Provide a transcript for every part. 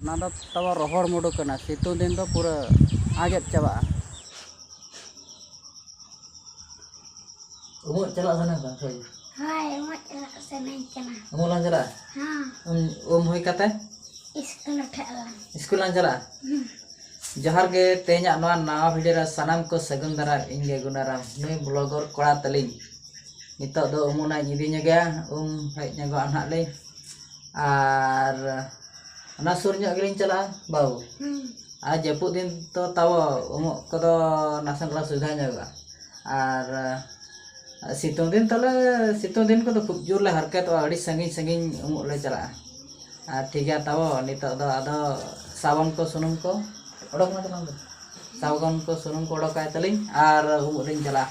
ᱚᱱᱟ ᱫᱚ ᱛᱟᱵᱚ ᱨᱚᱦᱚᱲ ᱢᱩᱰᱩ ᱠᱟᱱᱟ ᱥᱤᱛᱩᱝ ᱫᱤᱱ ᱫᱚ ᱯᱩᱨᱟᱹ ᱟᱸᱡᱮᱫ ᱪᱟᱵᱟᱜᱼᱟ ᱩᱢᱩᱜ ᱪᱟᱞᱟᱜ ᱥᱟᱱᱟ ᱠᱟᱱᱟ ᱥᱮ ᱦᱳᱭ ᱩᱢᱩᱜ ᱪᱟᱞᱟᱜ ᱥᱟᱱᱟᱧ ᱠᱟᱱᱟ ᱩᱢᱩᱜ ᱞᱟᱝ ᱪᱟᱞᱟᱜᱼᱟ ᱦᱮᱸ ᱩᱢ ᱩᱢ ᱦᱩᱭ ᱠᱟᱛᱮ ᱤᱥᱠᱩᱞ ᱩᱴᱷᱟᱹᱜ ᱟᱞᱟᱝ ᱤᱥᱠᱩᱞ ᱞᱟᱝ ᱪᱟᱞᱟᱜᱼᱟ ᱡᱚᱦᱟᱨ ᱜᱮ ᱛᱮᱦᱮᱧᱟᱜ ᱱᱚᱣᱟ ᱱᱟᱣᱟ ᱵᱷᱤᱰᱤᱭᱳ ᱨᱮ ᱥᱟᱱᱟᱢ ᱠᱚ ᱥᱟᱹᱜᱩᱱ ᱫᱟᱨᱟᱢ ᱤᱧ ᱜᱮ ᱜᱩᱱᱟᱨᱟᱢ ᱱᱩᱭ ᱵᱞᱚᱜᱚᱨ ᱠᱚᱲᱟ ᱛᱟᱹᱞᱤᱧ ᱱᱤᱛᱚᱜ ᱫᱚ ᱩᱢᱩᱜ ᱱᱟᱜ ᱤᱧ ᱤᱫᱤ ᱧᱚᱜᱮᱭᱟ ᱩᱢ ᱦᱮᱡ ᱧᱚᱜᱚᱜᱼᱟ ᱱᱟᱦᱟᱜ ᱞᱤᱧ ᱟᱨ ᱚᱱᱟ ᱥᱩᱨ ᱧᱚᱜ ᱜᱮᱞᱤᱧ ᱪᱟᱞᱟᱜᱼᱟ ᱵᱟᱹᱵᱩ ᱟᱨ ᱡᱟᱹᱯᱩᱫ ᱫᱤᱱ ᱛᱚ ᱛᱟᱵᱚ ᱩᱢᱩᱜ ᱠᱚᱫᱚ ᱱᱟᱥᱮ ᱫᱷᱟᱨᱟ ᱥᱩᱵᱤᱫᱷᱟ ᱧᱚᱜᱚᱜᱼᱟ ᱟᱨ ᱥᱤᱛᱩᱝ ᱫᱤᱱ ᱛᱟᱞᱮ ᱥᱤᱛᱩᱝ ᱫᱤᱱ ᱠᱚᱫᱚ ᱠᱷᱩᱵ ᱡᱳᱨ ᱞᱮ ᱦᱟᱨᱠᱮᱛᱚᱜᱼᱟ ᱟᱹᱰᱤ ᱥᱟᱺᱜᱤᱧ ᱥᱟᱺᱜᱤᱧ ᱩᱢᱩᱜ ᱞᱮ ᱪᱟᱞᱟᱜᱼᱟ ᱟᱨ ᱴᱷᱤᱠ ᱜᱮᱭᱟ ᱛᱟᱵᱚ ᱱᱤᱛᱚᱜ ᱫᱚ ᱟᱫᱚ ᱥᱟᱵᱚᱱ ᱠᱚ ᱥᱩᱱᱩᱢ ᱠᱚ ᱚᱰᱚᱠ ᱢᱮ ᱛᱟᱞᱟᱝ ᱫᱩ ᱥᱟᱵᱚᱱ ᱠᱚ ᱥᱩᱱᱩᱢ ᱠᱚ ᱚᱰᱚᱠ ᱟᱭ ᱛᱟᱞᱤᱧ ᱟᱨ ᱩᱢᱩᱜ ᱞᱤᱧ ᱪᱟᱞᱟᱜᱼᱟ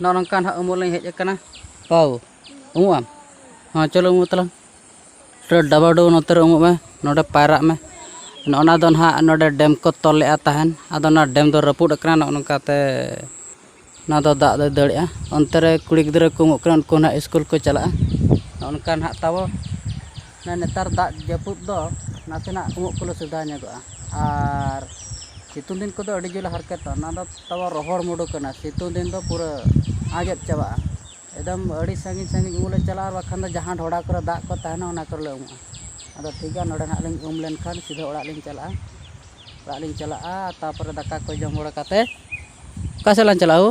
ᱱᱚᱜᱼᱚ ᱱᱚᱝᱠᱟ ᱱᱟᱦᱟᱜ ᱩᱢᱩᱜ ᱞᱤᱧ ᱦᱮᱡ ᱟᱠᱟᱱᱟ ᱯᱟᱣ ᱩᱢᱩᱜ ᱟᱢ ᱦᱚᱸ ᱪᱚᱞᱚ ᱩᱢᱩᱜ ᱛᱟᱞᱟᱝ ᱰᱟᱵᱟᱣ ᱰᱩᱵᱟᱹᱣ ᱱᱚᱛᱮ ᱨᱮ ᱩᱢᱩᱜ ᱢᱮ ᱱᱚᱰᱮ ᱯᱟᱭᱨᱟᱜ ᱢᱮ ᱱᱚᱜᱼᱚ ᱱᱟ ᱫᱚ ᱱᱟᱦᱟᱜ ᱱᱚᱰᱮ ᱰᱮᱢ ᱠᱚ ᱛᱚᱞ ᱞᱮᱫᱼᱟ ᱛᱟᱦᱮᱱ ᱟᱫᱚ ᱚᱱᱟ ᱰᱮᱢ ᱫᱚ ᱨᱟᱹᱯᱩᱫ ᱟᱠᱟᱱᱟ ᱱᱚᱜᱼᱚ ᱱᱚᱝᱠᱟ ᱛᱮ ᱚᱱᱟ ᱫᱚ ᱫᱟᱜ ᱫᱚᱭ ᱫᱟᱹᱲᱮᱫᱼᱟ ᱚᱱᱛᱮ ᱨᱮ ᱠᱩᱲᱤ ᱜᱤᱫᱽᱨᱟᱹ ᱠᱚ ᱩᱢᱩᱜ ᱠᱟᱱᱟ ᱩᱱᱠᱩ ᱱᱟᱦᱟᱜ ᱥᱠᱩᱞ ᱠᱚ ᱪᱟᱞᱟᱜᱼᱟ ᱱᱚᱜᱼᱚ ᱱᱚᱝᱠᱟ ᱱᱟᱦᱟᱜ ᱛᱟᱵᱚ ᱱᱚᱜᱼᱚᱭ ᱱᱮᱛᱟᱨ ᱫᱟᱜ ᱡᱟᱹᱯᱩᱫ ᱫᱚ ᱱᱟᱥᱮᱱᱟᱜ ᱩᱢᱩᱜ ᱠᱚᱞᱮ ᱥᱩᱵᱤᱫᱷᱟ ᱧᱚᱜᱚᱜᱼᱟ ᱟᱨ ᱥᱤᱛᱩᱝ ᱫᱤᱱ ᱠᱚᱫᱚ ᱟᱹᱰᱤ ᱡᱳᱨᱞᱮ ᱦᱟᱨᱠᱮᱛᱚᱜᱼᱟ ᱚᱱᱟ ᱫᱚ ᱛᱟᱵᱚ ᱨᱚᱦᱚᱲ ᱢᱩᱰᱩ ᱠᱟᱱᱟ ᱥᱤᱛᱩᱝ ᱫᱤᱱ ᱫᱚ ᱯᱩᱨᱟᱹ ᱟᱸᱡᱮᱫ ᱪᱟᱵᱟᱜᱼᱟ ᱮᱠᱫᱚᱢ ᱟᱹᱰᱤ ᱥᱟᱺᱜᱤᱧ ᱥᱟᱺᱜᱤᱧ ᱩᱢᱩᱜ ᱞᱮ ᱪᱟᱞᱟᱜᱼᱟ ᱟᱨ ᱵᱟᱠᱷᱟᱱ ᱫᱚ ᱡᱟᱦᱟᱸ ᱰᱷᱚᱰᱟ ᱠᱚᱨᱮ ᱫᱟᱜ ᱠᱚ ᱛᱟᱦᱮᱱᱟ ᱚᱱᱟ ᱠᱚᱨᱮᱞᱮ ᱩᱢᱩᱜᱼᱟ ᱟᱫᱚ ᱴᱷᱤᱠ ᱜᱮᱭᱟ ᱱᱚᱰᱮ ᱦᱟᱸᱜ ᱞᱤᱧ ᱩᱢ ᱞᱮᱱᱠᱷᱟᱱ ᱥᱤᱫᱷᱟᱹ ᱚᱲᱟᱜ ᱞᱤᱧ ᱪᱟᱞᱟᱜᱼᱟ ᱚᱲᱟᱜ ᱞᱤᱧ ᱪᱟᱞᱟᱜᱼᱟ ᱛᱟᱨᱯᱚᱨᱮ ᱫᱟᱠᱟ ᱠᱚ ᱡᱚᱢ ᱵᱟᱲᱟ ᱠᱟᱛᱮᱫ ᱚᱠᱟ ᱥᱮᱫ ᱞᱟᱝ ᱪᱟᱞᱟᱜᱼᱟ ᱦᱳ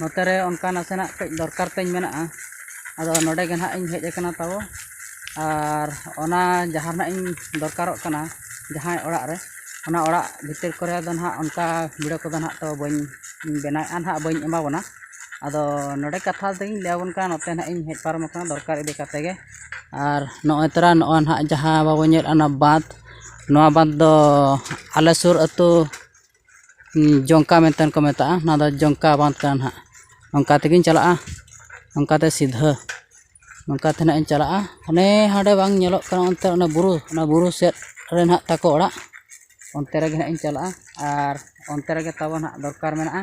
ᱱᱚᱛᱮ ᱨᱮ ᱚᱱᱠᱟ ᱱᱟᱥᱮᱱᱟᱜ ᱠᱟᱹᱡ ᱫᱚᱨᱠᱟᱨ ᱛᱤᱧ ᱢᱮᱱᱟᱜᱼᱟ ᱟᱫᱚ ᱱᱚᱰᱮ ᱜᱮ ᱱᱟᱦᱟᱜ ᱤᱧ ᱦᱮᱡ ᱟᱠᱟᱱᱟ ᱛᱟᱵᱚ ᱟᱨ ᱚᱱᱟ ᱡᱟᱦᱟᱸ ᱱᱟᱦᱟᱜ ᱤᱧ ᱫᱚᱨᱠᱟᱨᱚᱜ ᱠᱟᱱᱟ ᱡᱟᱦᱟᱸᱭ ᱚᱲᱟᱜ ᱨᱮ ᱚᱱᱟ ᱚᱲᱟᱜ ᱵᱷᱤᱛᱤᱨ ᱠᱚᱨᱮ ᱫᱚ ᱱᱟᱦᱟᱜ ᱚᱱᱠᱟ ᱵᱷᱤᱲᱟᱹ ᱠᱚᱫᱚ ᱱᱟᱦᱟᱜ ᱛᱚ ᱵᱟᱹᱧ ᱵᱮᱱᱟᱣᱮᱜᱼᱟ ᱱᱟᱦᱟᱜ ᱵᱟᱹᱧ ᱮᱢᱟ ᱵᱚᱱᱟ ᱟᱫᱚ ᱱᱚᱰᱮ ᱠᱟᱛᱷᱟ ᱫᱚᱧ ᱞᱟᱹᱭ ᱟᱵᱚᱱ ᱠᱟᱱᱟ ᱱᱚᱛᱮ ᱱᱟᱦᱟᱜ ᱤᱧ ᱦᱮᱡ ᱯᱟᱨᱚᱢ ᱟᱠᱟᱱᱟ ᱫᱚᱨᱠᱟᱨ ᱤᱫᱤ ᱠᱟᱛᱮᱫ ᱜᱮ ᱟᱨ ᱱᱚᱜᱼᱚᱸᱭ ᱛᱚᱨᱟ ᱱᱚᱜᱼᱚᱸᱭ ᱱᱟᱦᱟᱜ ᱡᱟᱦᱟᱸ ᱵᱟᱵᱚᱱ ᱧᱮᱞᱮᱜᱼᱟ ᱚᱱᱟ ᱵᱟᱸᱫᱷ ᱱᱚᱣᱟ ᱵᱟᱸᱫᱷ ᱫᱚ ᱟᱞᱮ ᱥᱩᱨ ᱟᱹᱛᱩ ᱡᱚᱝᱠᱟ ᱢᱮᱱᱛᱮ ᱠᱚ ᱢᱮᱛᱟᱜᱼᱟ ᱱᱚᱣᱟ ᱫᱚ ᱡᱚᱝᱠᱟ ᱵᱟᱸᱫᱽ ᱠᱟᱱᱟ ᱱᱟᱦᱟᱜ ᱚᱱᱠᱟ ᱛᱮᱜᱮᱧ ᱪᱟᱞᱟᱜᱼᱟ ᱚᱱᱠᱟ ᱛᱮ ᱥᱤᱫᱷᱟᱹ ᱚᱱᱠᱟ ᱛᱮ ᱱᱟᱦᱟᱜ ᱤᱧ ᱪᱟᱞᱟᱜᱼᱟ ᱦᱟᱱᱮ ᱦᱟᱸᱰᱮ ᱵᱟᱝ ᱧᱮᱞᱚᱜ ᱠᱟᱱᱟ ᱚᱱᱛᱮ ᱚᱱᱟ ᱵᱩᱨᱩ ᱚᱱᱟ ᱵᱩᱨᱩ ᱥᱮᱫ ᱨᱮ ᱱᱟᱦᱟᱜ ᱛᱟᱠᱚ ᱚᱲᱟᱜ ᱚᱱᱛᱮ ᱨᱮᱜᱮ ᱱᱟᱦᱟᱜ ᱤᱧ ᱪᱟᱞᱟᱜᱼᱟ ᱟᱨ ᱚᱱᱛᱮ ᱨᱮᱜᱮ ᱛᱟᱵᱚᱱ ᱱᱟᱦᱟᱜ ᱫᱚᱨᱠᱟᱨ ᱢᱮᱱᱟᱜᱼᱟ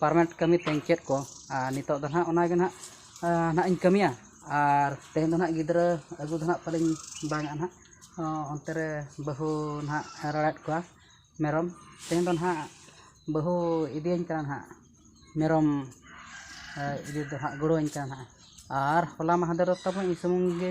ᱯᱟᱨᱢᱟᱱᱮᱱᱴ ᱠᱟᱹᱢᱤ ᱛᱤᱧ ᱪᱮᱫ ᱠᱚ ᱟᱨ ᱱᱤᱛᱚᱜ ᱫᱚ ᱦᱟᱸᱜ ᱚᱱᱟᱜᱮ ᱦᱟᱸᱜ ᱦᱟᱸᱜ ᱤᱧ ᱠᱟᱹᱢᱤᱭᱟ ᱟᱨ ᱛᱮᱦᱮᱧ ᱫᱚ ᱦᱟᱸᱜ ᱜᱤᱫᱽᱨᱟᱹ ᱟᱹᱜᱩ ᱫᱚ ᱦᱟᱸᱜ ᱯᱟᱞᱮᱧ ᱵᱟᱝ ᱟᱜᱼᱟ ᱦᱟᱸᱜ ᱚᱱᱛᱮ ᱨᱮ ᱵᱟᱹᱦᱩ ᱦᱟᱸᱜ ᱨᱟᱲᱟᱭᱮᱫ ᱠᱚᱣᱟ ᱢᱮᱨᱚᱢ ᱛᱮᱦᱮᱧ ᱫᱚ ᱦᱟᱸᱜ ᱵᱟᱹᱦᱩ ᱤᱫᱤᱭᱟᱹᱧ ᱠᱟᱱᱟ ᱦᱟᱸᱜ ᱢᱮᱨᱚᱢ ᱤᱫᱤ ᱫᱚ ᱦᱟᱸᱜ ᱜᱚᱲᱚᱣᱟᱹᱧ ᱠᱟᱱᱟ ᱦᱟᱸᱜ ᱟᱨ ᱦᱚᱞᱟ ᱢᱟᱦᱫᱮᱨ ᱛᱟᱵᱚ ᱤᱧ ᱥᱩᱢᱩᱝ ᱜᱮ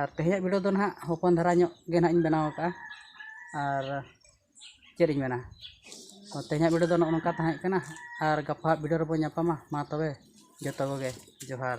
ᱟᱨ ᱛᱮᱦᱮᱧᱟᱜ ᱵᱷᱤᱰᱤᱭᱳ ᱫᱚ ᱱᱟᱦᱟᱜ ᱦᱚᱯᱚᱱ ᱫᱷᱟᱨᱟ ᱧᱚᱜ ᱜᱮ ᱱᱟᱦᱟᱜ ᱤᱧ ᱵᱮᱱᱟᱣ ᱠᱟᱜᱼᱟ ᱟᱨ ᱪᱮᱫ ᱤᱧ ᱢᱮᱱᱟ ᱛᱮᱦᱮᱧᱟᱜ ᱵᱷᱤᱰᱤᱭᱳ ᱫᱚ ᱱᱚᱜᱼᱚ ᱱᱚᱝᱠᱟ ᱛᱟᱦᱮᱸ ᱠᱟᱱᱟ ᱟᱨ ᱜᱟᱯᱟᱣᱟᱜ ᱵᱷᱤᱰᱤᱭᱳ ᱨᱮᱵᱚᱱ ᱧᱟᱯᱟᱢᱟ ᱢᱟ ᱛᱚᱵᱮ ᱡᱚᱛᱚ ᱠᱚᱜᱮ ᱡᱚᱦᱟᱨ